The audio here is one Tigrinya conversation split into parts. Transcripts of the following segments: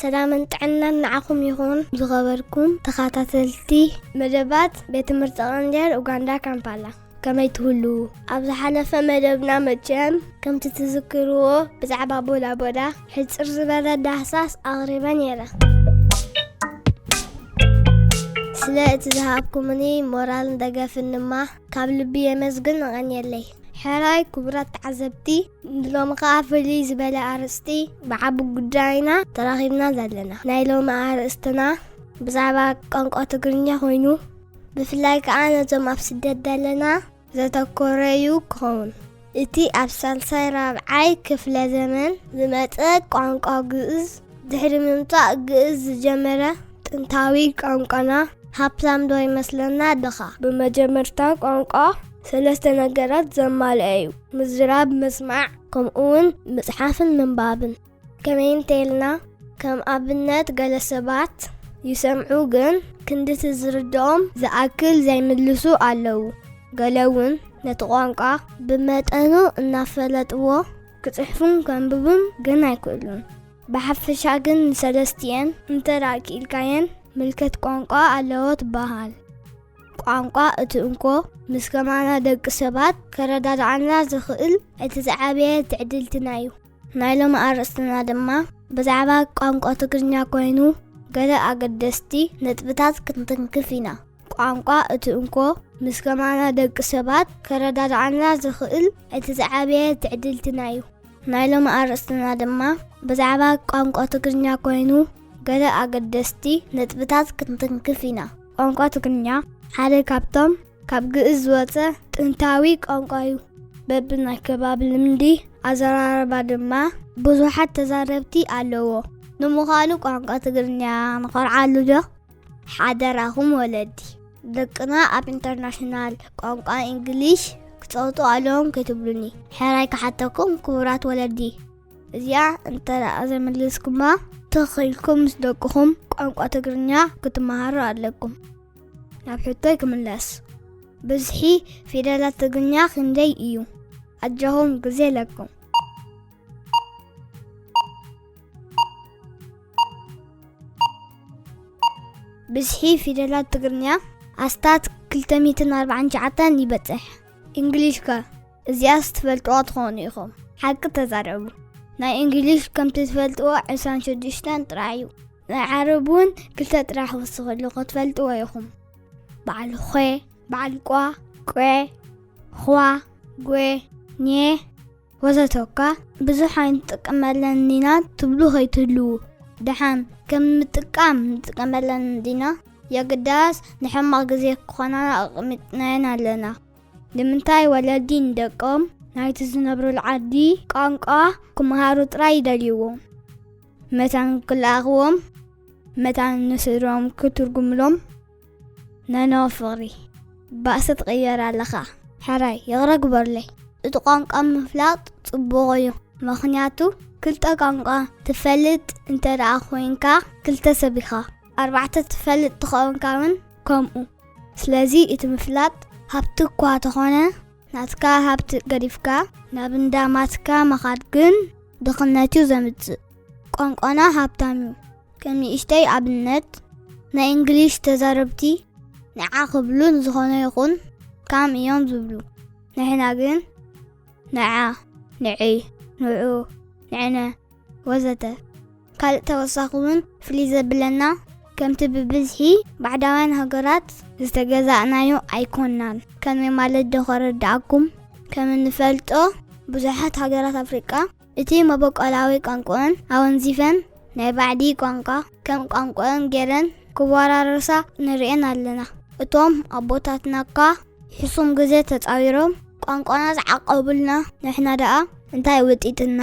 ሰላምን ጥዕናን ንዓኹም ይኹን ዝኸበርኩም ተኸታተልቲ መደባት ቤት ትምህርቲ ቐንዴል ኡጋንዳ ካምፓላ ከመይ ትህሉ ኣብ ዝሓለፈ መደብና መቸም ከምቲ ትዝክርዎ ብዛዕባ ቦዳቦዳ ሕፅር ዝበለ ዳህሳስ ኣቕሪበ ነይረ ስለ እቲ ዝሃብኩምኒ ሞራልን ደገፍን ድማ ካብ ልቢ የመስግን እቐንየለይ ሕራይ ክቡራት ተዓዘብቲ ሎሚ ከዓ ፍልይ ዝበለ ኣርእስቲ ብዓቢ ጉዳይና ተራኺብና ዘለና ናይ ሎሚ ኣርእስትና ብዛዕባ ቋንቋ ትግርኛ ኮይኑ ብፍላይ ከዓ ነዞም ኣብ ስደት ዘለና ዘተኮረ እዩ ክኸውን እቲ ኣብ ሳልሳይ ራብዓይ ክፍለ ዘመን ዝመፀ ቋንቋ ግእዝ ድሕሪ ምምፃእ ግእዝ ዝጀመረ ጥንታዊ ቋንቋና ሃብታም ዶ ይመስለና ድኻ ብመጀመርታ ቋንቋ ሰለስተ ነገራት ዘማልአ እዩ ምዝራብ ምስማዕ ከምኡውን ምጽሓፍን ምንባብን። ከመይ እንተይልና ከም ኣብነት ገለ ሰባት ይሰምዑ ግን ክንድቲ ዝርድኦም ዝኣክል ዘይምልሱ ኣለዉ። ገለ እውን ነቲ ቋንቋ ብመጠኑ እናፈለጥዎ ክጽሕፉን ከንብቡን ግን ኣይክእሉን። ብሓፈሻ ግን ንሰለስቲኤን እንተ ደኣ ክኢልካየን ምልከት ቋንቋ ኣለዎ ትበሃል። ቋንቋ እቲ እንኮ ምስ ከማና ደቂ ሰባት ከረዳድዓና ዝኽእል እቲ ዝዓበየ ትዕድልትና እዩ። ናይ ሎሚ ኣርእስትና ድማ ብዛዕባ ቋንቋ ትግርኛ ኮይኑ ገለ ኣገደስቲ ነጥብታት ክንትንክፍ ኢና። ቋንቋ እቲ እንኮ ምስ ከማና ደቂ ሰባት ከረዳድዓና ዝኽእል እቲ ዝዓበየ ትዕድልትና እዩ። ናይ ሎሚ ኣርእስትና ድማ ብዛዕባ ቋንቋ ትግርኛ ኮይኑ ገለ ኣገደስቲ ነጥብታት ክንትንክፍ ኢና። ቋንቋ ትግርኛ ሓደ ካብቶም ካብ ግእዝ ዝወጸ ጥንታዊ ቋንቋ'ዩ። በብናይ ከባቢ ልምዲ ኣዘራርባ ድማ ብዙሓት ተዛረብቲ ኣለዎ። ንምዃኑ ቋንቋ ትግርኛ ንኾርዓሉ'ዶ? ሓደራኹም ወለዲ፣ ደቅና ኣብ ኢንተርናሽናል ቋንቋ ኢንግሊሽ ክጸውቱ ኣለዎም ከይትብሉኒ ሕራይ ክሓተኩም ክቡራት ወለዲ። እዚኣ እንተ ደኣ ዘይመለስኩማ ተኺልኩም ምስ ደቅኹም ቋንቋ ትግርኛ ክትመሃሩ ኣለኩም ናብ ሕቶይ ክምለስ ብዝሒ ፊደላት ትግርኛ ክንደይ እዩ ኣጃኹም ግዜ ኣለኩም ብዝሒ ፊደላት ትግርኛ ኣስታት 249 ይበፅሕ እንግሊሽ ከ እዚኣስ ትፈልጥዋ ትኾኑ ኢኹም ሓቂ ተዛረቡ ናይ እንግሊሽ ከምቲ ትፈልጥዎ ዕስራን ሽዱሽተን ጥራሕ እዩ ናይ ዓረብ እውን ክልተ ጥራሕ ወስኽሉ ክትፈልጥዎ ኢኹም በዓል ኾ በዓል ቋ ቈ ኹዋ ጐ ኘ ወዘተ እኳ ብዙሕ ኣይንጥቀመለን ዲና ትብሉ ከይትህልዉ ደሓን ከም ምጥቃም ንጥቀመለን ዲና የግዳስ ንሕማቕ ግዜ ክኾናና ኣቕሚጥናየን ኣለና ንምንታይ ወለዲ ንደቆም ናይቲ ዝነብሩሉ ዓዲ ቋንቋ ክመሃሩ ጥራይ ይደልይዎም? መታን ክለኣኽዎም፣ መታን ንስድርኦም ክትርጉምሎም? ነኖ ፍቕሪ፣ ባእሲ ትቕየር ኣለኻ። ሕራይ፣ ይቕረ ግበሩለይ፣ እቲ ቋንቋ ምፍላጥ ጽቡቕ እዩ፣ ምኽንያቱ ክልተ ቋንቋ ትፈልጥ እንተደኣ ኮይንካ ክልተ ሰብ ኢኻ፣ ኣርባዕተ ትፈልጥ ተኾንካ ውን ከምኡ። ስለዚ እቲ ምፍላጥ ሃብቲ እኳ ተኾነ ናትካ ሃብቲ ገዲፍካ ናብ እንዳ ማትካ ምኻድ ግን ድኽነት እዩ ዘምጽእ። ቋንቋና ሃብታም እዩ። ከም ንእሽተይ ኣብነት ናይ እንግሊሽ ተዛረብቲ ንዓ ክብሉ ንዝኾነ ይኹን ካም እዮም ዝብሉ። ንሕና ግን ንዓ፣ ንዒ፣ ንዑ፣ ንዕነ፣ ወዘተ ካልእ ተወሳኺ ውን ፍልይ ዘብለና ከምቲ ብብዝሒ ባዕዳውያን ሃገራት ዝተገዛእናዮ ኣይኮናን ከመይ ማለት ዶ ከረድኣኩም ከም እንፈልጦ ብዙሓት ሃገራት ኣፍሪቃ እቲ መበቆላዊ ቋንቁኤን ኣወንዚፈን ናይ ባዕዲ ቋንቋ ከም ቋንቁኤን ጌረን ክወራረሳ ንርኤን ኣለና እቶም ኣቦታትና እካ ሕሱም ግዜ ተጻዊሮም ቋንቋና ዝዓቀቡልና ንሕና ደኣ እንታይ ውጢጥና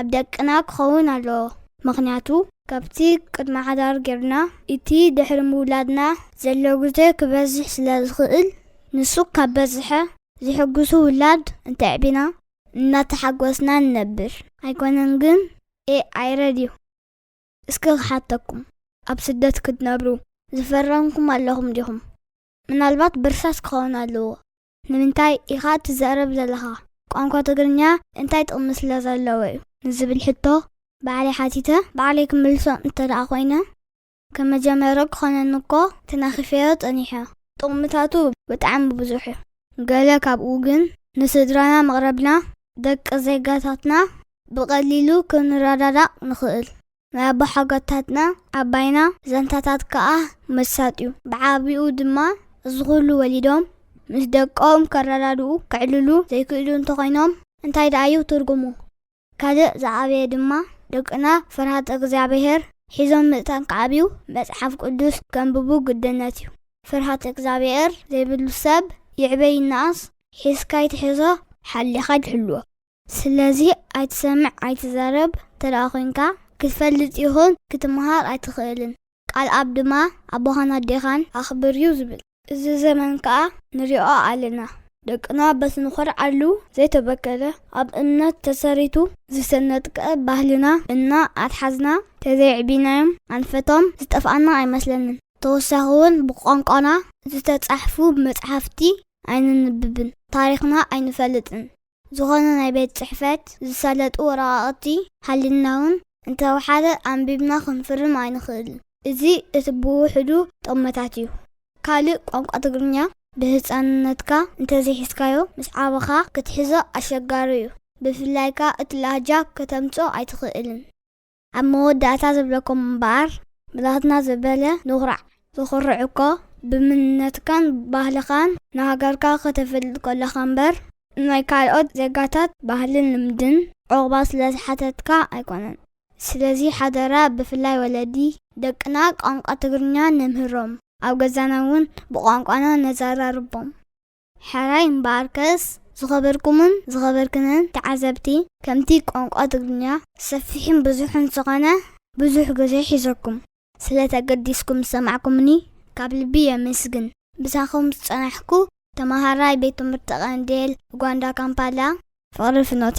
ኣብ ደቅና ክኸውን ኣለዎ ምኽንያቱ ካብቲ ቅድመ ሓዳር ጌርና እቲ ድሕሪ ምውላድና ዘሎ ግዜ ክበዝሕ ስለ ዝኽእል ንሱ ካብ በዝሐ ዝሕጉሱ ውላድ እንተዕቢና እናተሓጎስና ንነብር ኣይኮነን ግን AI ረድዩ እስኪ ክሓተኩም ኣብ ስደት ክትነብሩ ዝፈረምኩም ኣለኹም ዲኹም ምናልባት ብርሳስ ክኸውን ኣለዎ ንምንታይ ኢኻ ትዛረብ ዘለኻ? ቋንቋ ትግርኛ እንታይ ጥቕሚ ስለ ዘለዎ'ዩ? ንዝብል ሕቶ ባዕለይ ሓቲተ ባዕለይ ክምልሶ እንተድኣ ኮይነ፣ ከም መጀመርኡ ክኾነኒ እኮ ተናኺፈዮ ጸኒሐ። ጥቕምታቱ ብጣዕሚ ብዙሕ'ዩ። ገለ ካብኡ ግን ንስድራና ምቕራብና ደቂ ዜጋታትና ብቐሊሉ ክንረዳዳእ ንኽእል። ናይ ኣቦሓጎታትና ኣባይና ዛንታታት ከኣ መሳጢ'ዩ። ብዓቢኡ ድማ እዚ ኩሉ ወሊዶም ምስ ደቆም ከረዳድኡ፣ ከዕልሉ፣ ዘይክእሉ እንተኾይኖም እንታይ ደኣ'ዩ ትርጉሙ? ካልእ ዝዓበየ ድማ ደቅና ፍርሃተ እግዚኣብሄር ሒዞም ምእንታን ክዓብዩ መጽሓፍ ቅዱስ ከንብቡ ግድነት'ዩ። ፍርሃተ እግዚኣብሄር ዘይብሉ ሰብ ይዕበ ይነኣስ ሒዝካ ኣይትሕዞ ሓሊኻ ሕልዎ። ስለዚ ኣይትሰምዕ ኣይትዛረብ እንተደኣ ኮይንካ ክትፈልጥ ይኹን ክትመሃር ኣይትኽእልን። ቃል ኣብ ድማ ኣቦኻን ኣዴኻን ኣኽብር ዩ ዝብል። እዚ ዘመን ከኣ ንሪኦ ኣለና ደቅና በቲ ንኾርዓሉ ዘይተበከለ ኣብ እምነት ተሰሪቱ ዝሰነጥቀ ባህልና እና ኣትሓዝና ተዘየዕቢናዮም ኣንፈቶም ዝጠፍኣና ኣይመስለንን። ተወሳኺ ውን ብቋንቋና ዝተጻሕፉ መጽሓፍቲ ኣይነንብብን ታሪኽና ኣይንፈልጥን ዝኾነ ናይ ቤት ጽሕፈት ዝሳለጡ ወረቓቕቲ ሃልዩናውን እንተወሓደ ኣንቢብና ክንፍርም ኣይንኽእልን። እዚ እቲ ብውሕዱ ጠመታት እዩ። ካልእ ቋንቋ ትግርኛ ብህጻንነትካ እንተዘይሒዝካዮ ምስ ዓበኻ ክትሕዞ ኣሸጋሪ እዩ። ብፍላይ ከኣ እቲ ላህጃ ከተምጽኦ ኣይትኽእልን። ኣብ መወዳእታ ዝብለኩም እምበኣር ብናትና ዝበለ ንኹራዕ። ትኹርዕ እኮ ብምንነትካን ባህልኻን ንሃገርካ ከተፍልጥ ከለኻ እምበር ናይ ካልኦት ዜጋታት ባህልን ልምድን ዑቕባ ስለ ዝሓተትካ ኣይኮነን። ስለዚ ሓደራ ብፍላይ ወለዲ ደቅና ቋንቋ ትግርኛ ነምህሮም ኣብ ገዛና እውን ብቋንቋና ነዘራርቦም። ሕራይ እምበኣርከስ ዝኸበርኩምን ዝኸበርክንን ተዓዘብቲ፣ ከምቲ ቋንቋ ትግርኛ ሰፊሕን ብዙሕን ዝኾነ ብዙሕ ግዜ ሒዘኩም ስለ ተገዲስኩም ዝሰማዕኩምኒ ካብ ልቢ የመስግን። ምሳኹም ዝጸናሕኩ ተመሃራይ ቤት ትምህርቲ ቀንዴል፣ ኡጋንዳ ካምፓላ። ፍቕሪ ፍኖተ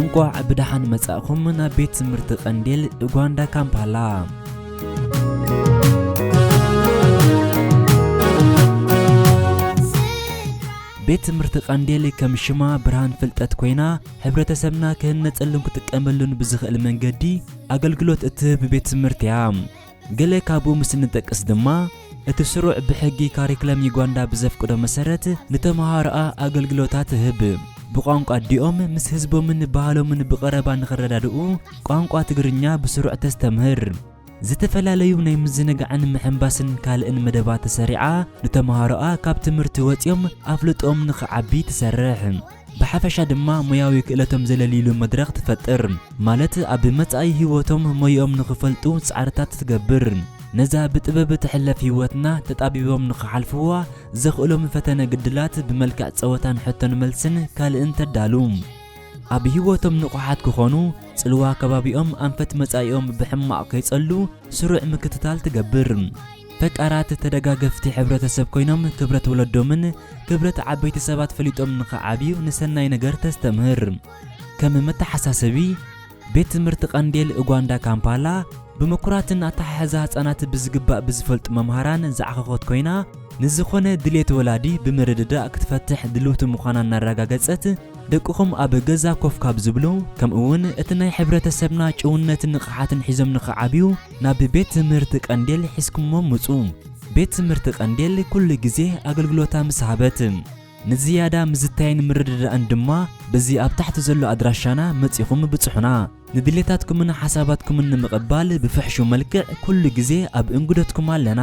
እንቋዕ ብደሓን መጻእኹም ናብ ቤት ትምህርቲ ቀንዴል ኡጋንዳ ካምፓላ ቤት ትምህርቲ ቀንዴል ከም ሽማ ብርሃን ፍልጠት ኮይና ሕብረተሰብና ክህነጸሉን ክጥቀመሉን ብዝኽእል መንገዲ ኣገልግሎት እትህብ ቤት ትምህርቲ እያ ገለ ካብኡ ምስ እንጠቅስ ድማ፣ እቲ ስሩዕ ብሕጊ ካሪክለም ዩጋንዳ ብዘፍቅዶ መሰረት ንተመሃሮኣ ኣገልግሎታ ትህብ። ብቋንቋ ኣዲኦም ምስ ህዝቦምን ባህሎምን ብቐረባ ንኽረዳድኡ ቋንቋ ትግርኛ ብስሩዕ ተስተምህር። ዝተፈላለዩ ናይ ምዝንጋዕን ምሕንባስን ካልእን መደባት ሰሪዓ ንተመሃሮኣ ካብ ትምህርቲ ወጺኦም ኣፍልጦኦም ንኽዓቢ ትሰርሕ። ብሓፈሻ ድማ ሞያዊ ክእለቶም ዘለልይሉ መድረኽ ትፈጥር፣ ማለት ኣብ መጻኢ ህይወቶም ሞይኦም ንኽፈልጡ ጻዕርታት ትገብር። ነዛ ብጥበብ ትሕለፍ ህይወትና ተጣቢቦም ንኽሓልፍዋ ዘኽእሎም ፈተነ ግድላት ብመልክዕ ጸወታን ሕቶን መልስን ካልእን ተዳሉ። ኣብ ህይወቶም ንቑሓት ክኾኑ፣ ጽልዋ ከባቢኦም ኣንፈት መጻኢኦም ብሕማቕ ከይጸሉ ስሩዕ ምክትታል ትገብር። ፈቃራት ተደጋገፍቲ ሕብረተሰብ ኮይኖም ክብረት ወለዶምን ክብረት ዓበይቲ ሰባት ፈሊጦም ንኽዓብዩ ንሰናይ ነገር ተስተምህር። ከም መተሓሳሰቢ፣ ቤት ትምህርቲ ቀንዴል ኡጋንዳ ካምፓላ ብምኩራትን ኣተሓሕዛ ህጻናት ብዝግባእ ብዝፈልጡ መምሃራን ዝዓኸኾት ኮይና ንዝኾነ ድልየት ወላዲ ብምርድዳእ ክትፈትሕ ድልውቲ ምዃና እናረጋገጸት ደቅኹም ኣብ ገዛ ኮፍ ካብ ዝብሉ ከምኡ'ውን እቲ ናይ ሕብረተሰብና ጭውነትን ንቕሓትን ሒዞም ንኽዓብዩ ናብ ቤት ትምህርት ቀንዴል ሒዝኩሞም ምጹ። ቤት ትምህርት ቀንዴል ኩሉ ግዜ ኣገልግሎታ ምስ ሃበት። ንዝያዳ ምዝታይን ምርድዳእን ድማ በዚ ኣብ ታሕቲ ዘሎ ኣድራሻና መጺኹም ብጽሑና። ንድሌታትኩምን ሓሳባትኩምን ንምቕባል ብፍሕሹው መልክዕ ኩሉ ግዜ ኣብ እንግዶትኩም ኣለና።